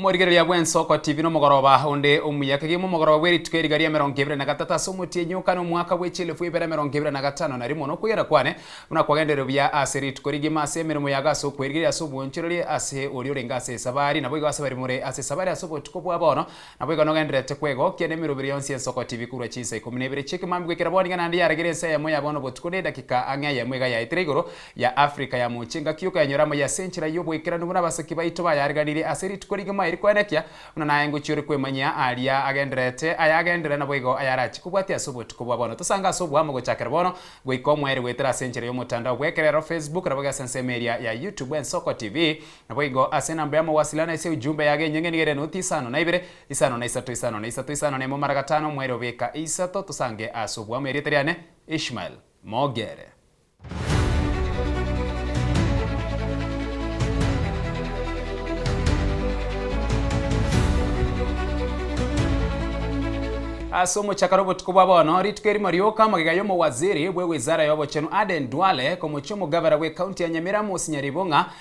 Omorigereria bw'Ensoko TV nomogoroba onde omuya. Kegima omogoroba bw'erituko eriga ria emerongo ebere na gatatu ase omotienyi okane omwaka bwe chielefu ibere emerongo ebere na gatano na rimo nokwegera kwane buna kwagenderire buya ase rituko rigima ase emeremo yago ase okwerigereria ase obwonchorerie ase oria orenge ase esabari naboigo ase baria more ase esabari ase obotuko bwa bono Naboigo nogendererete kwegokia nemerobire yonsi y'ensoko TV korwa chinsa ikomi na ibere chi'ekemambia goikera bono iga naende yaragire ensa eyemo ya bono obotuko nedakika ang'e eyemo iga yaetire igoro ya Afrika ya mochie engaki y'okonyora amaiyo ase enchera y'oboikeranu buna abasaki baito bayariganirie ase rituko rigima eri koenekia buna naye ngochia ore kwemanyia aria agendererete aya agenderere naboigo ayarachie kobwatia ase obotuko bwa bono tosange ase oboamo gochakera bono goika omoeri goetera ase enchera y'omotandao bw'ekerero Facebook naboigo ase ensemo eria ya YouTube ensoko TV Naboigo ase enamba y'amawasiliano na ase ujumbe yago enyeng'eni gere enoti isano na ibere, isano na isato, isano na isato, isano na emo mara gatano omwerio beka eisato tosange ase obwamo erieta riane Ishmael Mogere. Ase omochaka nobotuko bwa bono, rituko erimo rioka magega y'omowaziri bwe wizara y'obochenu Aden Duale, komochia omogavera bwe county ya Nyamira Mosinyari Bong'a,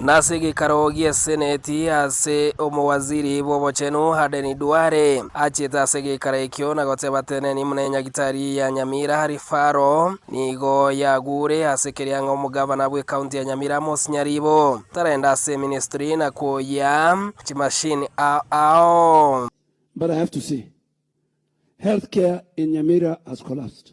Nase egeikaro gi'eseneti ase omowaziri bw'obochenu Aden Duale achete ase egeikaro ekio na goteba teneni muna enyagitari ya Nyamira Rifaro nigo yagure ase keria ng'a omogavana bwe county ya Nyamira Amos Nyaribo tarenda ase eministry na koyia chimashini ao. But I have to say, health care in Nyamira has collapsed.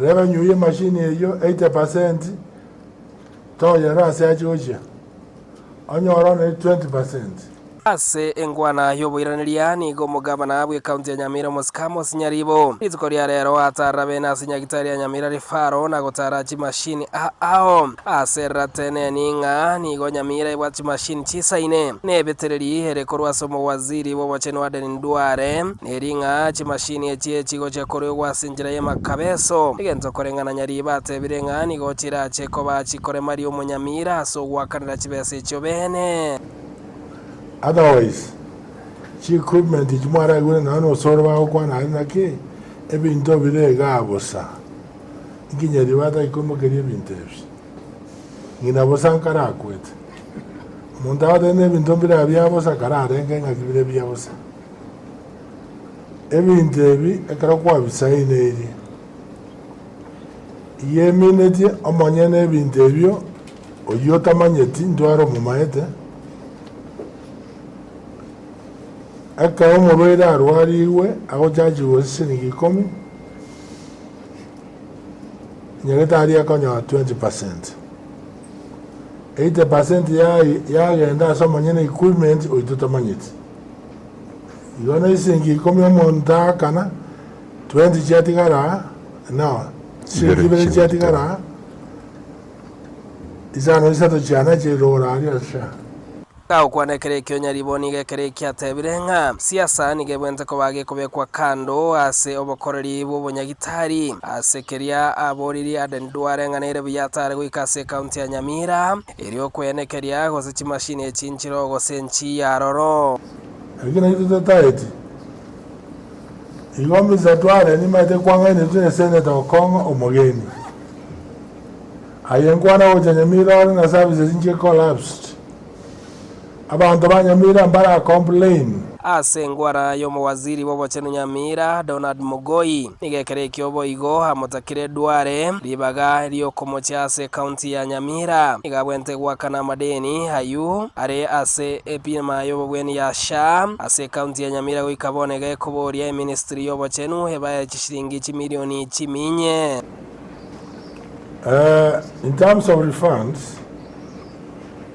Reba nyuya emashini eyio 80 percent toyere ase ache gochia, onyore one 20 percent. Ase engwana y'oboiraneria nigo omogabana bw'ecounty ya Nyamira omosika Amos Nyaribo, rituko ria rero ataarera bene ase nyagitari ya Nyamira Referral na gotara chimashini aa ao. Aserera teneni ng'a nigo Nyamira ebwate chimashini chisaine, na ebetereri ere korwa ase omowaziri bw'obochenu Aden Nduale, Ne ring'aa chimashini echie chigochia koriogwa ase enchera y'emakabeso, egento kore ng'a na Nyariiba atebire ng'a nigo chirache koba chikoremaria omonyamira ase ogoakanera chibesa echio beene. Otherwise, chi equipment echi mwaraigure nonya n'osore bagokwana are naki, ebinto bire igaa bosa. Inki Nyariiba atari koimokeria ebinto ebi? Ng'ina bosa nkarakwete. Omonto agotebi n'ebinto mbire abia bosa kararenge ng'aki bire bia bosa. Ebinto ebi ekero kwabisaineirie, iyemineti omonyene ebinto ebio, oyio otamanyeti ndware omomaete. Ekero omorwaire arwarigwe agochachigwe chisiringi ikomi, nyagetari akonyora twenty percent. Eighty percent yagenda ase omonyene equipment oyio totamanyeti. Igo na isegi ikomi omonto aakana, twenty chiatigara aa, inao, chisegi chibere chiatigara aa, isano isato chiana chiri rogoro aria as'sha. Agokwana ekero ekio nyaribo nigo ekero ekio atebire ng'a siasa nigo ebwente koba gekobekwa kando ase obokoreri bw'obonyagitari. Ase keria aboririe Aden Duale ng'a nere buya atare goika ase ekaunti ya Nyamira, Erio okwenekeria, gose chimashini echinchiro, gose enchii y'aroro. Naki naintwe totaeti, igo Misa tware nimaete kwang'aina intwe nesenete gokong'a omogeni. Aye nkwana gocha nyamira ore na services inche collapsed. Abanto ba Nyamira mbare a complain. Ase engwara y'omowaziri bw'obochenu Nyamira, Donald Mugoi, nigo ekero ekio boigo amotakire Duale ribaga ri'okomochia ase ecounty ya Nyamira. Nigo abwenerete goakana amadeni ayio are ase ebima y'obobwenia ya SHA ase ecounty ya Nyamira goika bono iga ekoboria eministry y'obochenu ebae chisiringi chimilioni chiminye. In terms of refunds.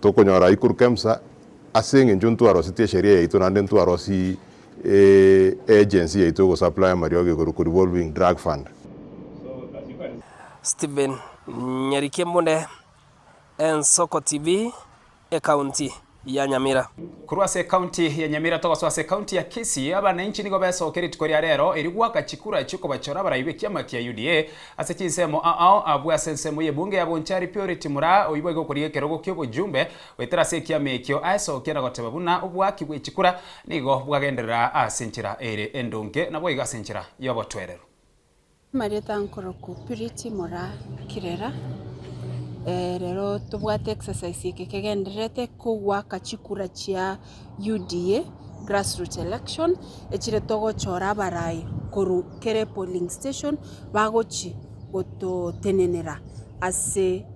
Tokonyora aikoru kemsa ase eng'encho ntwarosetie esheria yaito naende ntwarosi e agency yaito egosaplaya amariogo igoro ku revolving drug fund. Stephen Nyarikimbunde, Ensoko TV, Ekaunti ya Nyamira. Korwa ase ekaunti ya Nyamira togosoa ase ekaunti ya Kisii, abananchi nigo besoke rituko ria rero erio goaka chikura chi'okobachora abarai b'ekiama kia UDA Ase chinsemo aao abwo ase ensemo y'ebunge ya Bonchari Purity moraa oibwa iga okorigia ekerogo ki'obojumbe goetera ase ekiama ekio aesokia na goteba buna obwaki bwe chikura nigo bwagenderera ase enchera ere endonge naboigo ase enchera y'obotwereru. Amarieta nkoroku Purity moraa Kirera. Rero tobwate exercise eke kegendererete kogwaka chikura chia UDA grassroots election echire togochora abarai korwa kere polling station bagochi gototenenera ase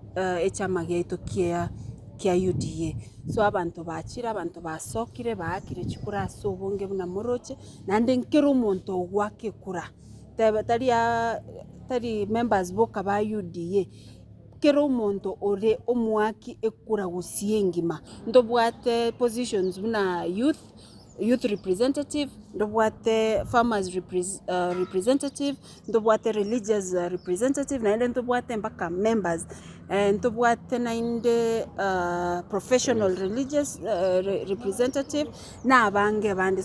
echama giaito kia kia UDA. So abanto bachire abanto basokire baakire chikura ase obonge buna moroche naende nkera omonto ogoaka ekura tari tari members boka ba UDA. Kera omonto ore omoaki ekura gosii engima ntobwate positions buna youth youth representative ntobwate farmers representative ntobwate religious representative naende ntobwate mpaka members ntobwate naende professional religious representative na abange abande.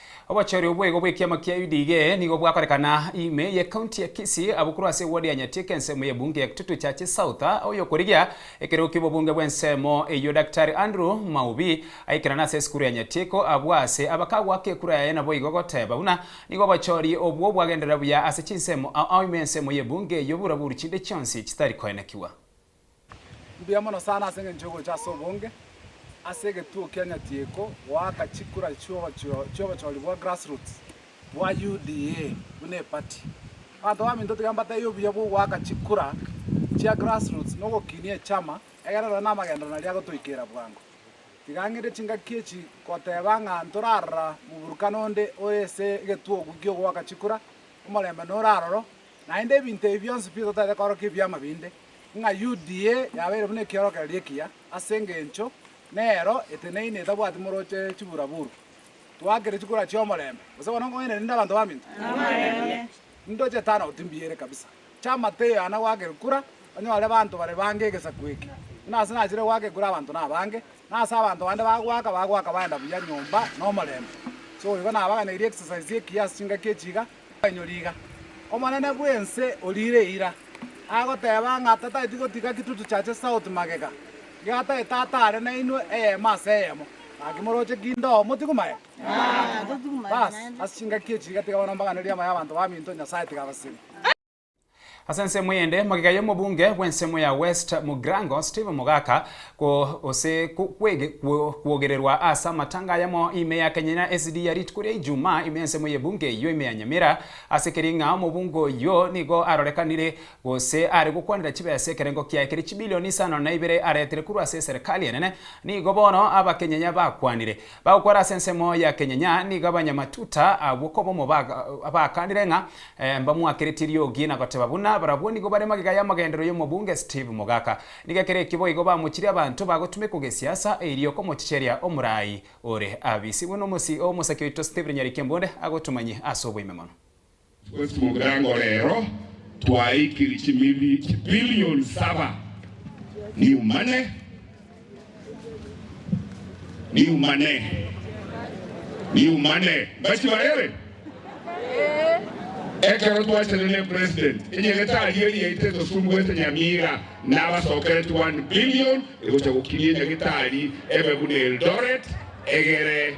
Obochori obwo igo bw'ekiama kia UDA nigo bwakorekana ime ye county ya Kisii abwo korwa ase eward ya Nyatieka ensemo y'ebunge ya Kitutu Churches South oyokorigia ekero ki'obobunge bw'ensemo eyio Daktari Andrew Maubi aikerana ase esukuru ya Nyatieko abwo ase abakagwaka ekura yaye naboigo goteba buna nigo obochori obwo bwagenderera buya ase chinsemo ao ime ensemo y'ebunge eyio bura buru chinde chionsi chitari koenekigwa. Mbuya mono sana ase engencho y'ogocha ase obonge ase egetuo kia Nyatieko goaka chikura chi'obochori bwa grassroots bwa UDA buna epati. Abanto baminto tiga mbatebie obuya bw'ogoaka chikura chia grassroots na ogokinia echama egere nonye namagenderero naria agotoikeera bwango. Tiga ng'ende chingaki echi goteba ng'a ntorarora moburukana onde ore ase egetuo oki ki'ogoaka chikura, omorembe nore aroro, Naende ebinto ebi bionsi pi totaete korokia ebiama binde, ng'a UDA yabeire buna ekiorokererio ekiya, ase engencho nero eteneine etabwati morooche chibura-buru, twaakire chikura chi'omorembe, gose bono nkong'aina rende abanto baminto? Namarembe. Ndoche tano goti mbiere kabisa. Chama teiyo ana gwaakere kura, onyore banto bare bange egesaku eke. Buna ase nachire gwaaka ekura abanto nabange, na ase abanto bande bagwaaka, bagwaaka baenda buya nyomba nomorembe. Sogo igo nabaganeirie exercise ekiya ase chingaki echi iga, Mwanyori iga, omonene bw'ense oriire eira, agoteeba ng'a tatageti gotiga kitutu chache south magega, giatare tata are nainwe eyemo ase eyemo. Gaki moroche kindoo, motigwe maye. Bas, ase chingaki echi iga tiga bono mbaganerie amaya 'abanto baminto, Nyasae tiga abasemi. Ase ensemo eyende, magega y'omobunge bw'ensemo ya West Mugrango, Steve Mogaka, ko ose ko kwege kwo kwogererwa ase amatanga ayamo ime ya Kenya na SD ya rituko ria Ijumaa ime y'ensemo y'ebunge eyio ime ya Nyamira, ase keria ng'a omobunge oyio nigo arorekanire gose are gokwanera chibesa ekerengo kiaye kere chibilioni isano na ibere aretire korwa ase eserekari enene, nigo bono Abakenya yabakwanire. Bagokora ase ensemo ya kenyenya nigo abanyamatuta agwo koba omo baakaanire ng'a mbamwakeretie riogi na goteba buna barabwo nigo bare magega y'amagenderero y'omobunge Steve Mogaka. Nigo ekero ekio boigo bamochirie abanto bagotumekwa gesiasa erio komochicheria omorai ore abisigwe nomosii omosakia oito Stephen Nyarikembonde agotumanyie ase oboime mono. Gose mobuya ngo rero twaikiri chimili chibilioni saba niumane, niumane, niumane mbachi barebe ekero twachire ne president enyagetari eria etetosumbwete Nyamira nabasokereti one billion egocha gokinia enyagetari ebe buna Eldoret egere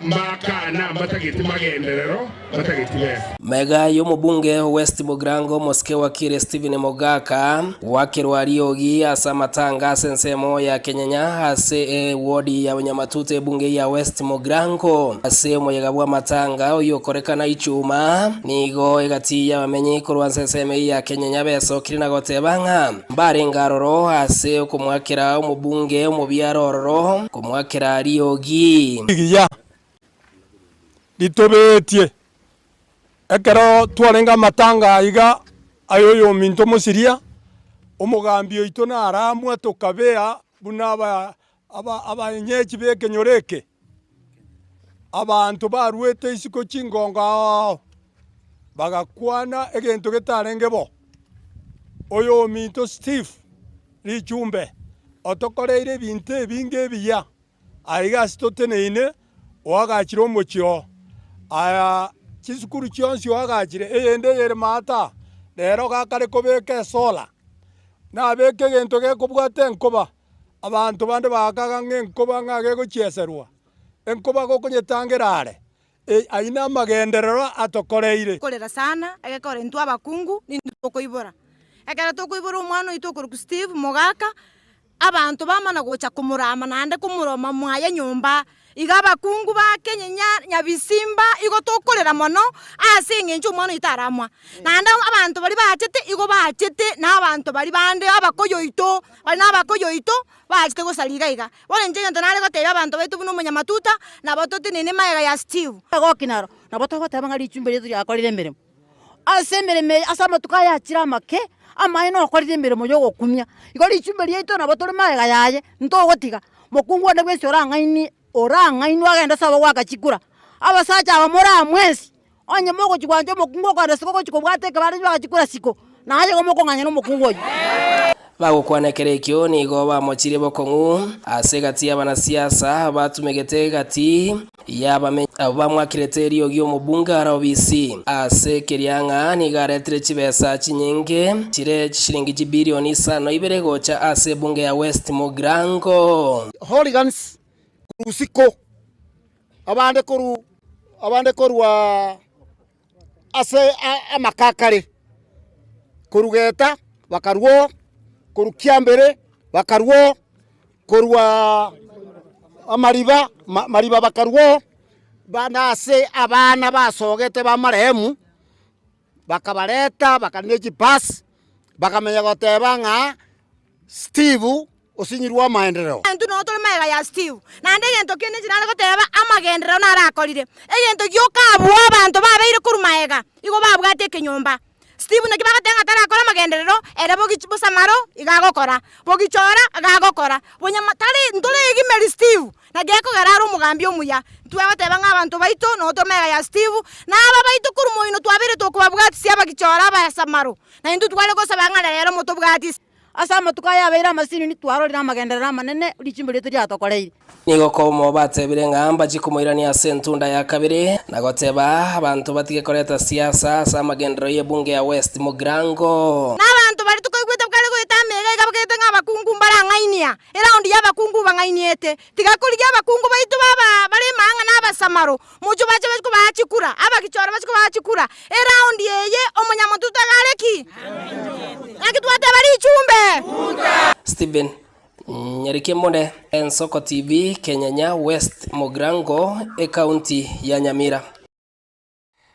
Mbakana mbatageti magenderero, mbatageti besa. Mega y'omobunge o West Mogrango omosike wakire Stephen Mogaka gwakerwa riogi ase amatanga ase ensemo ya Kenyanya ase e wodi ya Nyamatuta ebunge ya West Mogrango ase omoyega bw'amatanga oyio okorekana Ichuma nigo egati y'abamenyi korwa ase ensemo eye ya Kenyanya besokire na goteba ng'a mbarenge aroro ase okomwakera omobunge omobiaro ororo omwakera riogi. Rigiya ritobeetie. Ekero twarenge amatanga aiga ay'oyominto omosiria, omogambi oito naramwa tokabea buna abaenyechi b'ekenyoro eke, abanto baruete isiko chingongo ao ao. bagakwana egento getarenge bo, Oyominto Steve Lichumbe otokoreire ebinto ebinge ebiya aiga ase toteneine oagachire omochie oo. Aya chisukuru chionsi oagachire eyende eyere maata aa rero gakare kobeka esola, nabeke egento gekobwata enkoba, abanto bande bagakaga ng'a enkoba ng'a gegochieserwa, enkoba gokonyetangera are. Ee, ayio namagenderero atokoreire. Korera sana, egekore intwe abakungu nintwe tokoibora. Ekero tokoibora omwana oito okorokwa Steve mogaka, abanto bamana gocha komorama naende komoroma mwaye nyomba. Iga abakungu ba Kenya nyabisimba igo tokorera mono ase engencho omwana oito aramwa. Naende abanto baria bachete igo bachete na abanto baria bande abakoyo oito bari na abakoyo oito Bachete gosara iga iga, bono inche egento nare goteebia abanto baito buna omonyamatuta, nabo totenene magega ya Steve. Goki naro, nabo togoteeba ng'a richumbi riaito riakorire emeremo. Ase emeremo eye, ase amatuko aya achire amake, amaene okorire emeremo y'ogokumia, igo richumbi riaito nabo tore magega yaye, ntogotiga. Mokungu one bwensi orang'ainie, orang'ainwe agende sobo goaka chikura. Abasacha aba moramwensi. Onye mogochia gwancha omokungu o korasika ogochia kobwata ekebare erio bagachia korasiko, naye igo mokong'anyana omokungu oyio. Bagokwana ekero ekio nigo bamochirie bokong'u ase egati y'abanasiasa batumegete egati y'abamenyi abwo bamwakirete eriogi omobunge are obisi ase keria ng'a nigo aretire chibesa chinyinge chire chishiringi chibirioni isano na ibere gocha ase ebunge ya West Mugirango. Hooligans korwa usiku abande korwa ase amaka a kare, korwa Geta bakarwa oo, korwa Kiambere bakarwa oo, korwa Amariba, Amariba bakarwa oo, na ase abana basogete b'amarehemu. Bakabareta, bakare ne chipasi, bakamenya goteba ng'a Steve osinyirwe amaenderero. Intwe nonya tore magega ya Steve, naende egento kende inche nare goteba amagenderero narakorire. Egento gioka abwo abanto babeire korwa magega igo babwate ekenyomba. Steve naki bagoteba ng'a tarakore amagenderero, ere bogi chi bosamaro iga agokora, bogi chora iga agokora, bonyama tari ntoregimeria Steve, Na gekogera are omogambi omuya, intwe abateba ng'a abanto baito nootwe mega ya Steve, na aba baito korwa moino twabeirete okobabwatisia abagichore abayasamaro, na intwe tware gosaba ng'a reero motobwatisi. Ase amatuko aya abeire amasinini twarorire amagenderero amanene richimbe riaito riatokoreire. Nigo Komo batebire ng'a mbachie komoirania ase entunda ya kabere, na goteba abanto batige koreta siasa ase amagenderero y'ebunge ya West Mugirango. Na abanto baria tokoigwete bakare goeta amo iga iga bagete ng'a abakungu mbarang'ainia. Eraundi y'abakungu bang'ainiete, tiga korigia abakungu baito baba bare imang'ana abasamaro, mochio bache bache kobaa chikura, abagichore bache kobaa chikura. Eraundi eye omonyamonto tiga are ki? Naki twateba richumbe. Steven Nyarikie more Ensoko TV Kenyanya West Mogrango Ekaunti ya Nyamira.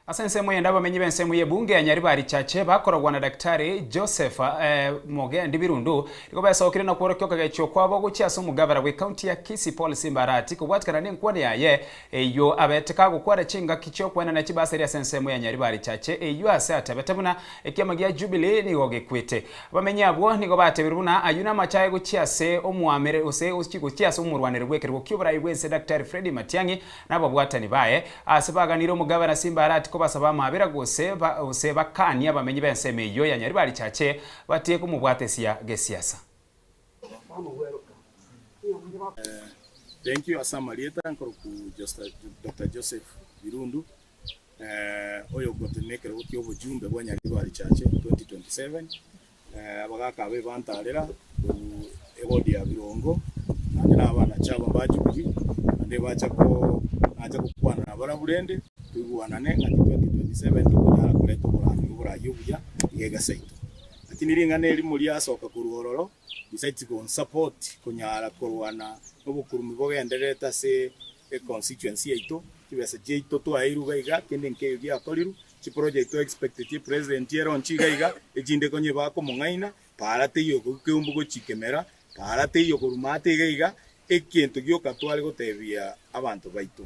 Ase ensemo eyende abamenyi b'ensemo y'ebunge ya Nyaribarichache bakorogwa na Daktari Joseph Mugendi Birundu nigo besokire na kworokia okogechwa okwabo gochia ase omogabera bw'ekaunti ya Kisii Paul Simba Arati kobwatikana nenkwana yaye eyio abete kagokwana chingaki chi'okwenana chibaseri ase ensemo ya Nyaribarichache eyio ase atebete buna ekiama gia Jubilee nigo gekwete abamenyi abwo nigo batebiru buna ayio namache aye gochia ase omoameri gose gochia ase omorwaneri bw'ekerogo ki'oborai bw'ense Daktari Freddy Matiang'i Na ababwatani baye aase baganire omogabe na Simbarati kobasaba amaabera, gose gose bakaanie abamenyi b'ensemo eyio ya Nyaribarichache batige komobwatesia gesiasa. Thank you ase amarieta nkoroku Doctor Joseph Birundu oyogotenena ekerogo kia obojumbe bwa Nyaribarichache 2027 abagaaka abo ebantaarera korwa egodi ya birongo, naende n'abaanache aba mbachukire, naende ebacha ko, nacha gokwana nabarabwo rende, toigwanane ng'a ki 2027 tokonyara koreta oborambe oboraria obuya iga egesa yaito. Lakini ring'ana erimo riasoka korwa ororo, risaiti konsupport konyara korwana nobokurumu bogendererete ase econstituency yaito, chibesa chiaito twaeirwe iga iga, kende nkeiyo giakorirwe, Chiproject to expect chi present e launch iga iga, echinde konye ba komong'aina, para teiyo okoigwa keumbu gochia kemera, para teiyo koruma ate iga iga, egento gioka tware gotebia abanto baito.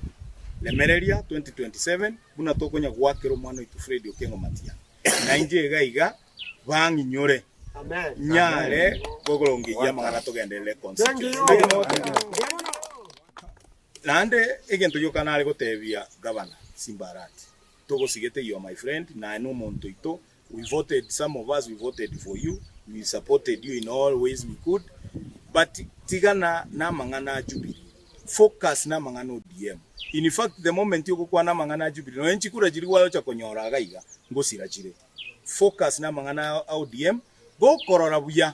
Remereria 2027 buna tokonya goakera omwana oito Freddy Okengo Matiang'i. Nainche iga iga bang'inyore nyare kokorongeyia amang'ana togenderere constituency. Naende egento gioka nare gotebia Gavana simbarati. togosigete your my friend naye nomonto oito we voted some of us we voted for you we supported you in all ways we could but tigana namang'ana a jubilee focus namang'ana ODM in fact the moment ogokwana amang'ana a jubilee nonya chikura chiria gwayocha konyora iga iga ngosira chire focus namang'ana a ODM gokorora buya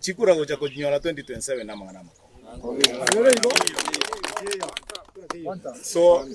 chikura gocha kochinyora 2027 namang'ana amakong'u. So,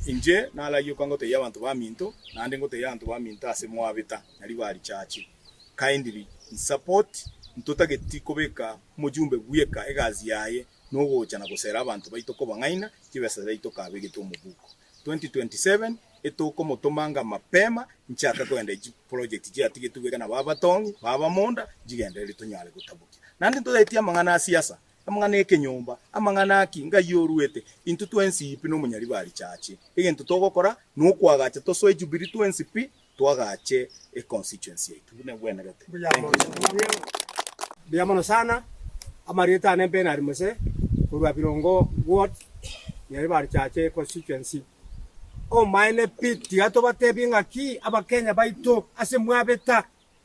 inche narayioka ngotebia abanto baminto, naende ngotebia abanto baminto ase mwabeta na ribarichache, kindly nsupport, ntotageti kobeka omojumbe bweka egasi yaye nogocha na gosera abanto baito kobang'aina chibesa chiaito kabegetwe omobuko. 2027 etokomotomanga mapema nchake koenda echi project chiatigetwe bweka nabo abatong'i baba monda nchigendereri tonyare gotabokia naende ntoetie amang'ana asiasa amang'ana ekenyomba amang'ana aki ngai oruete intwe twensi pi nomonyaribari chache egento togokora nokoagacha tosoe jubilee twensi pi twagache e constituency yaito buna egwenerete. Mbuya mono sana. Amarieta ane Bernard Muse korwa Birongo ward nyeri barichache e constituency. Omaene pi tiga tobatebie ng'aki abakenya baito ase mwabeta.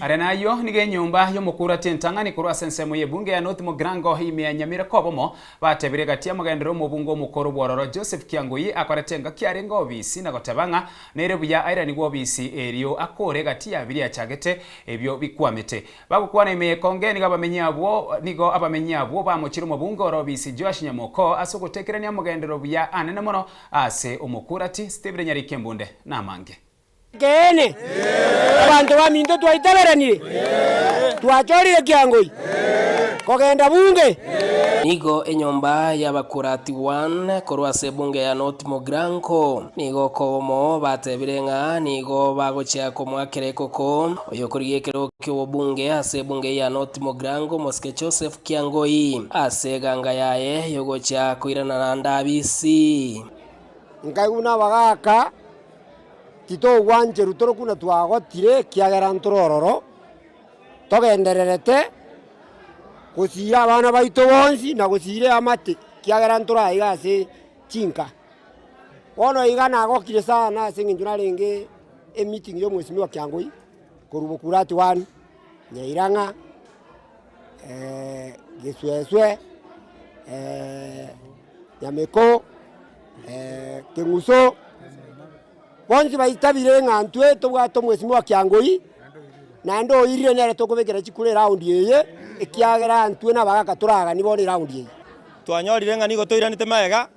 Aria nayio nigo enyomba y'omokurati entang'ani korwa ase ensemo y'ebunge ya North Mogirango ime ya Nyamira kobomo, batebirie gati amogenderere omobunge omokoro bw'ororo Joseph Kiangui akorete engaki arenge obisi na goteba ng'a nere buya airanigwe obisi erio akore gati ya biria achagete ebio bikwamete. Bagokwana ime y'ekonge nigo abamenyi abwo nigo abamenyi abwo bamochire omobunge ore obisi Joash Nyamoko ase ogotekerania amogenderere buya anene mono ase omokurati Stephen Nyarikembunde na amange. Inkeene, abanto baminto twaitaberanire, twachorire kiangoi, kogenda bunge. Nigo enyomba y'abakuraatigwa korwa ase ebunge ya North Mogranko. Nigo okogomo batebire ng'a nigo bagochia komoakera ekoko oyokorigia ekero ki'obobunge ase ebunge ya North Mogranko omosike Joseph Kiangoi ase eganga yaye yogochia koirana naende abisi. Nkaigwa nabagaaka Titogwancherwa tore buna twagotire, ekiagera ntore ororo, togendererete gosiria abana baito bonsi na gosiria eamate, ekiagera ntore aiga ase chinka. Bono iga nagokire sana ase eng'encho narenge emeeting ya omwesimwa Kiang'hoi, korwa Bukurati One, Nyairang'a, Gesuesue. Nyameko, Keng'uso, bonsi baitabire ng'a intwe tobwate omwesimi o Kiangoi, naende oirire nere tokobekera chikura eraundi eye, ekiagera intwe nabagaka toragani bono eraundi eye. Twanyorire ng'a nigo toiranete magega,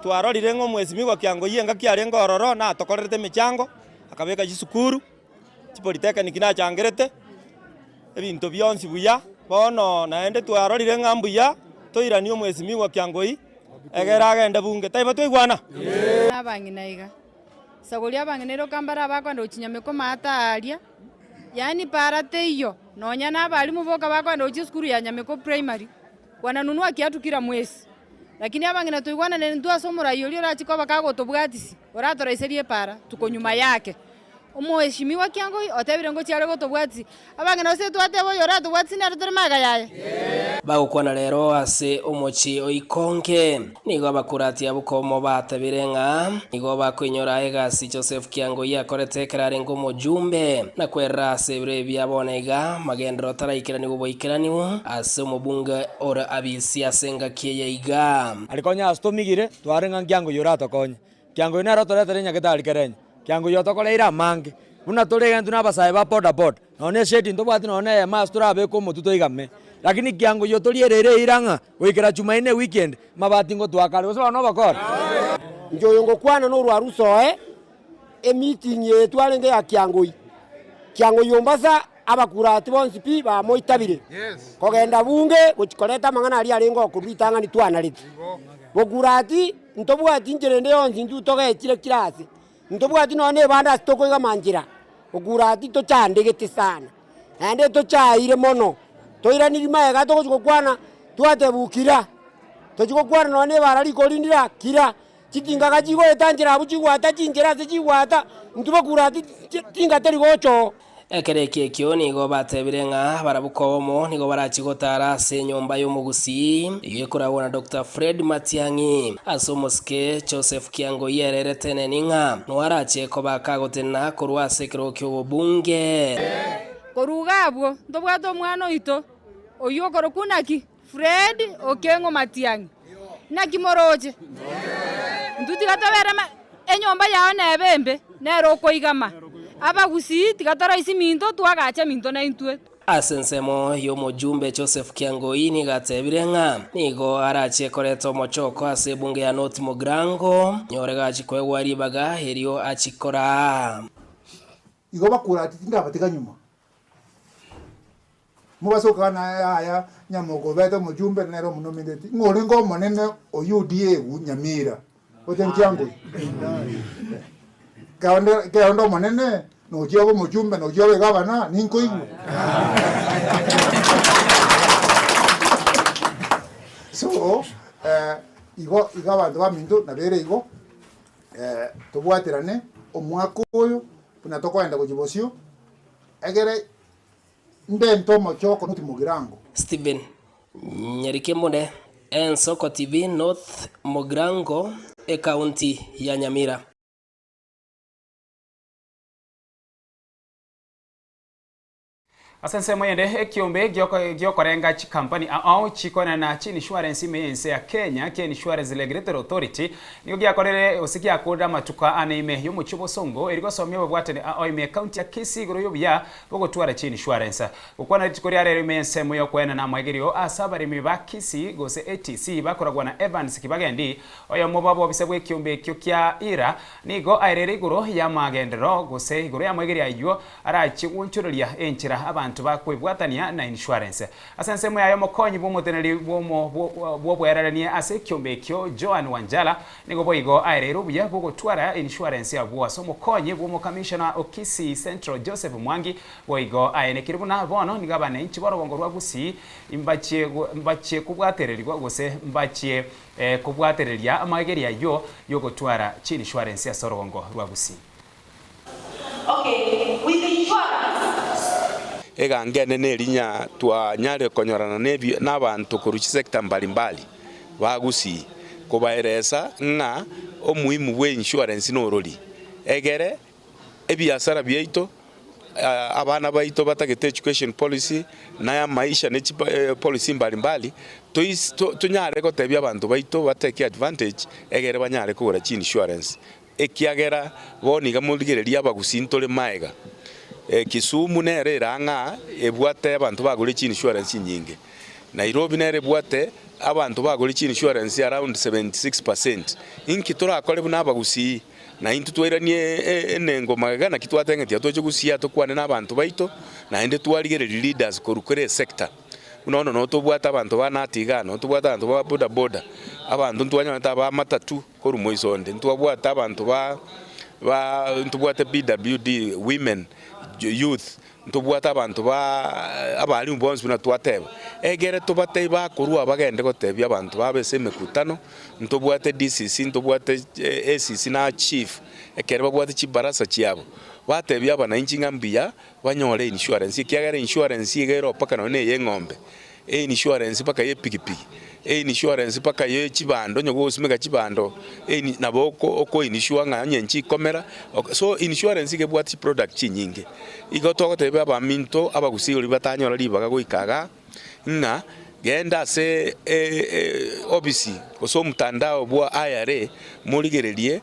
twarorire ng'a omwesimi o Kiangoi engaki arenge ororo na atokorerete emechango, akabeka chisukuru, Chipolitekniki nachangerete ebinto bionsi buya. Bono naende twarorire ng'a mbuya toiranie omwesimigwa Kiangoi egere agende bunge. Taibo twaigwana? Buna abang'ina iga. Isagori abang'ina iroka mbare abakoenda gochia nyameko amaate aaria, yaani paara teiyo, nonya na abalimu boka bakoenda gochia esukuru ya nyameko primary, wananunua kiatu kila mwezi. Lakini abang'ina twaigwananire intwe ase omorai oria orachie koba kagotobwatisia, oratoraiserie epaara tuko nyuma yake. Omoesimigwa kiang'oi otebire ng'o chiare gotobwatia abang'ina gose twateba oyoratobwatisi nere tore magega yaye? Bagokwana rero ase omochie o Ikonge. Nigo Abakurati abwo komobatebire ng'a nigo bakoinyora egasi Josefu kiang'oi akorete ekero arenge omojumbe, na kwerera ase ebiro ebia bono iga amagenderero ataraikeraniwu boikeraniwu ase omobunge ore abisi ase engaki eye iga. Ari konya ase tomigire, twarenge ng'a nkiang'oi oratokonye. Kiang'oio nere otoretere nyagetari kerenyo, kiang'oio otokoreire amange. Buna tore egento na abasae ba bodaboda, nonya na esheti ntobwati nonya na eyemo ase torabeke omotwe toigame. Lakini kiang'oio toriereire eira ng'a goikera Jumaine ewiki ende, amabati ngotoa kare, gose bono obokore. Inche oyo ngokwana norwaru soe emeeting eye twarenge ya kiang'oio. Kiang'oio ombasa Abakurati bonsi pi bamoitabire, kogenda bunge gochia koreta amang'ana aria arenge okorwa ritang'ani twanarete. Bokurati, ntobwati inchera ende yonsi intwe togechire kira aase, ntobwati nonya nebande ase tokoigama nchera, bokurati tochandegete sana, naende tochaire mono, toiraniri magega togochia gokwana twatebiwa kira, tochia gokwana nonya nebara riko rindira kira. Chikingaga chigoeta nchera abwo chigwata chinchera ase chigwata, intwe bakure ase chinga teri gocha oo. Ekero ekio ekio nigo batebire ng'a barabwo kobomo nigo barachie gotaara ase enyomba y'omogusii eyio ekoragwa na Doctor Fred Matiang'i. Ase omosike, Joseph Kiang'oyi ererete eneni ng'a noo arachie kobaka gotenena korwa ase ekerogo ki'obobunge. Koruga abwo, ntobwate omwana oito oyio okorokwa ng'a ki? Fred Okengo Matiang'i, Naki moroche? Intwe tiga tobeera ma... Enyomba yao nebe embe, nere okoigama. Abagusii tiga toroisia eminto, twagacha eminto naintwe. Ase ensemo y'omojumbe Joseph Kiangoi nigo atebire ng'a nigo arache koreta omochoko ase ebunge ya North Mugirango nyore gachi koegwa ribaga erio achikoraa. Igo bakora ati, Tindabatega nyuma. Mogasoka na Yahaya nyamoko obete omochumbe, na nere omonomineti, ng'a orenge omonene o Yudia egu nyamira, gocha nchianguru. Keonde, keonde omonene, nochia obe omochumbe, nochia obe egavana, ninkoigwa. so, eh, igo, igo abanto baminto nabere igo, eh, tobwaterane omwaka oyo, buna tokoenda gochia bosio, egere Ndente omochie okonuti mogirango. Steven Nyarikemure, Ensoko TV North Mogirango, Ekaunti ya Nyamira. Ase ensemo eyende, ekiombe giokorenga chikampani ao chikorana chiinishuarensi ime y'ense ya Kenya kia Insurance Regulatory Authority nigo giakorire gose giakorire amatuko aa ane ime y'omochie o Bosongo eri gosomia obobwatani ao ime y'ekaunti ya Kisii igoro y'obuya Ogotwara chiinishuarensa. Gokwana rituko ria rero ime y'ensemo y'okoenena amaegerio ase abaremi ba Kisii gose etc. Bakoragwa na Evans Kibagendi, oyomo bwabo obisa bw'ekiombe ekio kia Ira, nigo aereire igoro y'amagenderero gose igoro y'amaegerio ayio arachie gwochoreria enchera abanto bakwebwatania na inishuarense. Ase ensemo yaye omokonyi bw'omoteneneri bw'omo bw'oboererania ase ekiombe ekio Joan Wanjala Nigo boigo aereire obuya bw'ogotwara insurance abwo ase omokonyi bw'omokamishona o Kisii Central Joseph Mwangi boigo aenekire buna bono nigo abanenchi b'orogongo rwa Gusii mbachie mbachie kobwatererigwa gose mbachie kobwatereria amageria ayio y'ogotwara chinsurance ase orogongo rwa Gusii. Eganga ene nerinya twanyare konyorana nabanto korwa chisector mbali mbali bagusii kobaeresa ng'a omuhimu bwe insurance norori egere ebiasara biaito, abana baito batagete education policy na ya maisha ne chipolicy mbali mbali tonyare gotebia abanto baito batake advantage egere banyare kogora chi insurance Ekiagera bo niga morigererie abagusi ntore maega. Kisumu nero ere ang'a ebwate abanto bagore chi insurance nyinge. Nairobi nero ebwate abanto bagore chi insurance around seventy six percent. Inki torakore buna abagusii? Na intwe twairanie enengo magega naki twateng'eti iga toche gosia tokwane na abanto baito naende twarigererie leaders korwa kera esector. Buna bono no tobwate abanto ba nati igaa, no tobwate abanto ba bodaboda, abanto ntwanyorete aba matatu. Korwa moiso onde ntwabwate abanto ba ba ntobwate BWD, women, youth, ntobwate abanto ba abalimu bonsi buna twateba, egere tobatebie bakorwa aba bagende gotebia abanto babo ase emekutano, ntobwate DCC, ntobwate ACC na chief ekero babwate chibarasa chiabo, batebie abanainchi ng'a mbuya banyore einsurance, ekiagera einsurance iga ero mpaka nonye na ey'eng'ombe, einsurance mpaka y'epikipiki, einsurance mpaka ye chibando, onye gogosimeka chibando eini nabo oko oko insure ng'a onye inche ikomera ok. So insurance iga ebwate chiproduct chinyinge, igo togoteba abaminto abagusii oria batanyora ribaga goika igaa, ng'a genda ase e- e- e obisi gose omtandao bwa IRA morigererie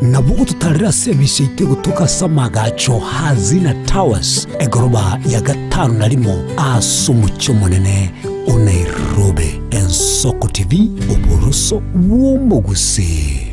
Nabo ototarere ase ebisaito egotoka ase amagacho a Zina Towers, egoroba ya gatano na rimo ase omochie omonene o Nairobi. Ensoko TV, Oboroso bw'omogusii.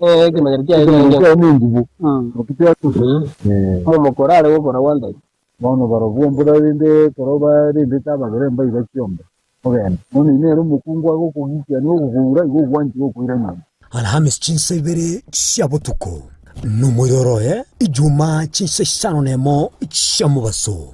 Ekemanyero kiaye Ekemanyero kiaye nengibo, naki tiakosa. Momokoro are gokora gwantaiti. Bono barobwo mborarende ekero barendete ababere mbaiga chiombe, mogende. Bono inee ere omokungu agokogikia nigo ogokoura igo ogwanchire gokoira nyomba? Alhamis chinsa ibere chia botuko, nomoiroro oye, Ijumaa chinsa isano nemo chia mobaso.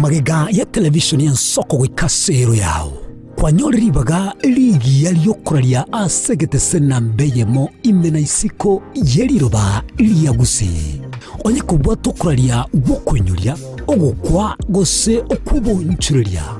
Magega ya televishoni ensoko goika as'eero yao, kwanyore ribaga rigiya ri'okoraria as'egetese na mbe eyemo ime na isiko ye riroba ria gusii. Onye kobwate okoraria gw'okoinyoria, ogokwa, gose okw'obonchoreria,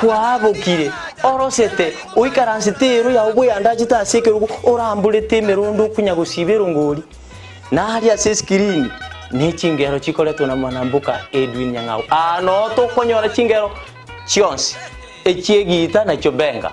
Kwabokire, orosete, oikaransete eero yao bweandachete ase ekerogo oramborete emerondo okonya gosiba erongori, na aria ase eskirini ne chingero chikoretwe na Mwanambuka Edwin Nyang'au. Aa noo tokonyora chingero chionsi echi'egiita na chiobenga.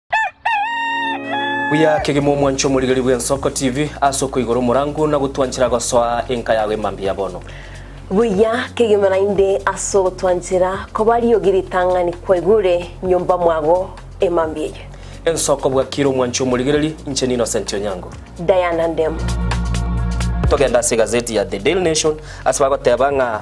Buya kegima omwanche omorigeri bw'Ensoko TV ase okoigora omorango na gotwanchera gosoa enka yago emambia ya bono. Buya kegima naende ase ogotwanchera koba riogi ritang'ani kwaigure nyomba mwago emambia eye. Ensoko bwakire omwanche omorigereri, inche n'Innocent Onyango. Diana Ndemu. Togenda ase egazeti ya The Daily Nation ase bagoteba ng'a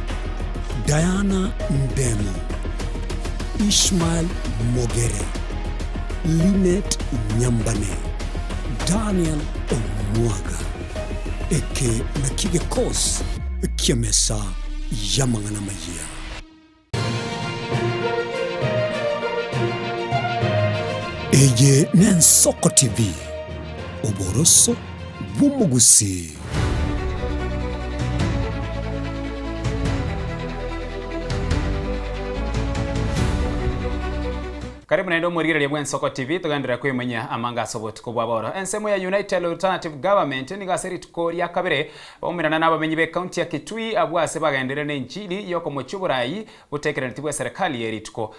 Diana Ndemu, Ishmael Mogere, Linet Nyambane, Daniel Omwaga. Eke nakio gekosi ki'emesa y'amang'ana amayia. Eye n'Ensoko TV, oboroso bw'omogusi. Karibu naende omorigereria bw'Ensoko TV, togenderere koimanyia amanga ase obotuko bwa bono. Ensemo ya United Alternative Government nigo ase rituko ria kabere baumerana na abamenyi b'ecounty ya Kitui abwo ase bagenderere n'enchiri y'okomochia oboraai botekeraneti bw'eserekari eye rituko.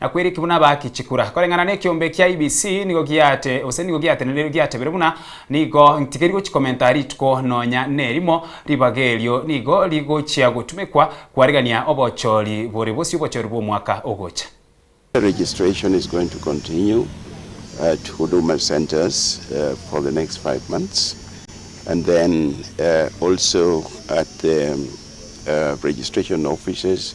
Na kweriki buna baaki chikura koreng'ana nekiombe ekia IEBC nigo giaate gose nigo giateneneirwe giatebire buna nigo ntigeri gochi komenta rituko nonya nerimo ribaga erio nigo rigochia gotumekwa kwarigania obochori bore bosio obochori bw'omwaka ogocha. Registration is going to continue at Huduma Centres for the next five months and then also at the Registration Offices.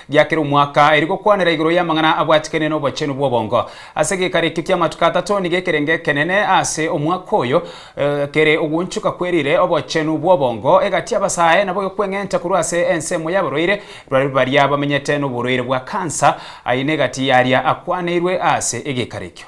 Gia kera omwaka, eri gokwanera igoro y'amang'ana abwatikane n'obochenu bw'obongo. Ase gekara eke ki'amatuko atato nigo ekerenge ekenene ase omwaka oyo kere ogoonchoka kwerire obochenu bw'obongo egati y'abasae nabo okweng'enta korwa ase ensemo y'abarwaire barabwo baria bamenyete noborwaire bwa kansa, aye negati yaria akwaneirwe ase egekara ekio.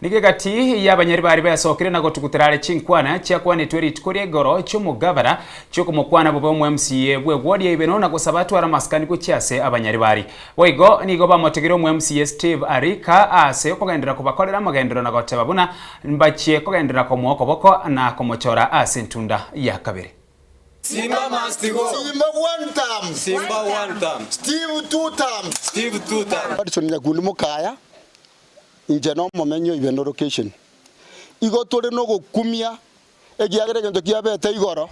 Nigo egati y'abanyari baria besokire na gotugutera are chinkwana chiakwanetwe rituko ri'egoro chi'omogabera chi'okomokwana bobe omweMCA bw'ewodi ya Ibeno na gosaba atware amasikani gochia ase abanyari baria. Boigo nigo bamotegeire omweMCA Steve Arika ase okogenderera kobakorera amagenderero na goteba buna mbachie kogenderera komoa okoboko na komochora ase ntunda ya kabere. Simba must go. Simba one term. Simba one term. Steve two term. Steve two term. Hudson Nyakundi mokaya, Inche nomomenyi o Ibendo location. Igo tore nogokumia ekiagera egento kiabete igoro,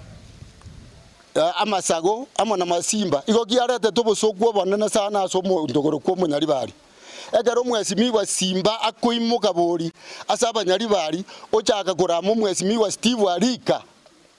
amasago amo na masimba igo kiaretete obosoku obonene sana ase omonto korokwa Omonyaribari. Ekero omwesimigwa Simba akoimoka bori ase Abanyaribari ochaka korama omwesimigwa Steve arika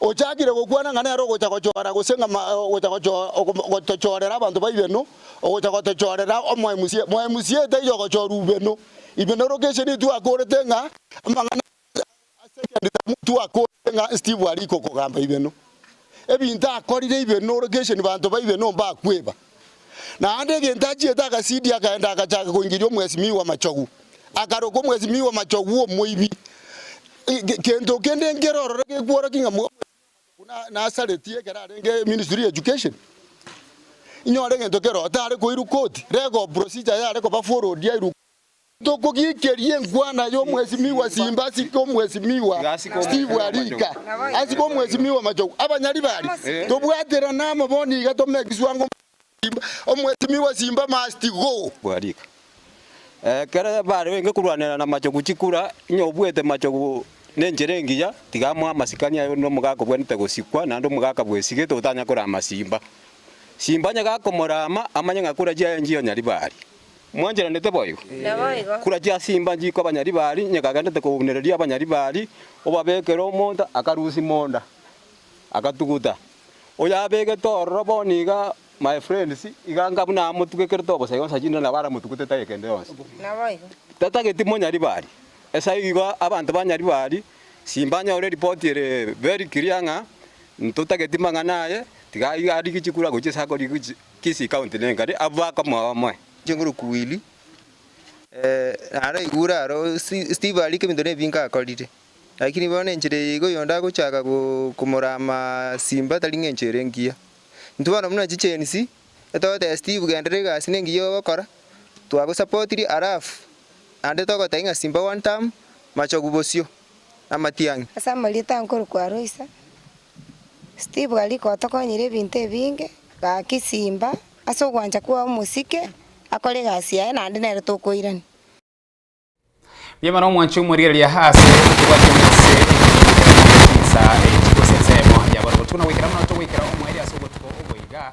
Ochakire gokwana ng'a nere ogocha gochora gose ng'a ogocha gotochorera abanto baibeno, ogocha gotochorera omoemusie. Moemusie taiyo ogochora ubeno. Ibeno location niyo twakorete ng'a amang'ana ase second term twakorete ng'a Steve arikokogamba ibeno. Ebinto akorire ibeno location banto baibeno mbakweba. Naende egento achiete agasidia akaenda agachaaka koingeria omwesimigwa amachogu, akaroka omwesimigwa amachogu omoibi. Gento kende nkere ororo gekworokia ng'a omwesimigwa amachogu nasareti ekero arenge ministry ya education? Inyore gento keroo tare koirwa koti, rega procedure yare koba followed yairwa koti. Tokogikeria enkwana y'omwesimigwa simbe ase omwesimigwa Steve Arika, ase omwesimigwa Machogu. Abanyari baria, tobwaterane amo bono iga tome egeswa ng'o omwesimigwa simbe must go. Arika. Ekero bare goika korwanera na Machogu chikura, onye obuete Machogu nenchera engiya, tiga amoe amasikani aye onde omogaka obwenerete gosikwa naende omogaka bwesigete otanya korama simba. Simba onye gakomorama, amanye ng'a korachia enchia y'onyari baria. Mwancheranete boigo? Naboigo. Kura chiasimba nchiko abanyaribari, nyeka agendete kogognereria abanyaribari, obabekere omonto akarusia monda, akatuguta. Oyo abegete ororo bono iga, my friends, iga nga buna amotugekerete obosa yonsi achinde nabo aramotugute tari kende yonsi. Naboigo. Tatageti monyaribari. Esayio igo abanto banyaribari, simba anyore eripoti ere very clear ng'a ntotageti mang'ana aye, tiga arigie chikura gochia ase akorigia gochia. Kisii County nenkari abwo bakomoa bamoe. Chinguru kuwili eh naro igure aro Steve aria kebinto nebinge akorire lakini bono enchera eye igo oyonde agochaka komora amasimba tari ng'a enchera engiya intwe bono buna chigenzi togotebia Steve genderera egasi nengiya ogokora twagosapotiri alafu naende togotebia ng'a simba one term machogu bosio. amatiang'i. Ase amarieta nkorokwa Aloisa, Steve aria gotokonyire ebinto ebinge, gaki simba ase ogwancha kwao mosike akore egasi yaye naende nere tokoirania. Mbuya mono omwanche omorigereria ase okobwatwa ime ase ekiagera nigo okoba nensa echi gose ensemo ya bono botuko na goikera buna otogoikera omoerio ase obotuko obo iga.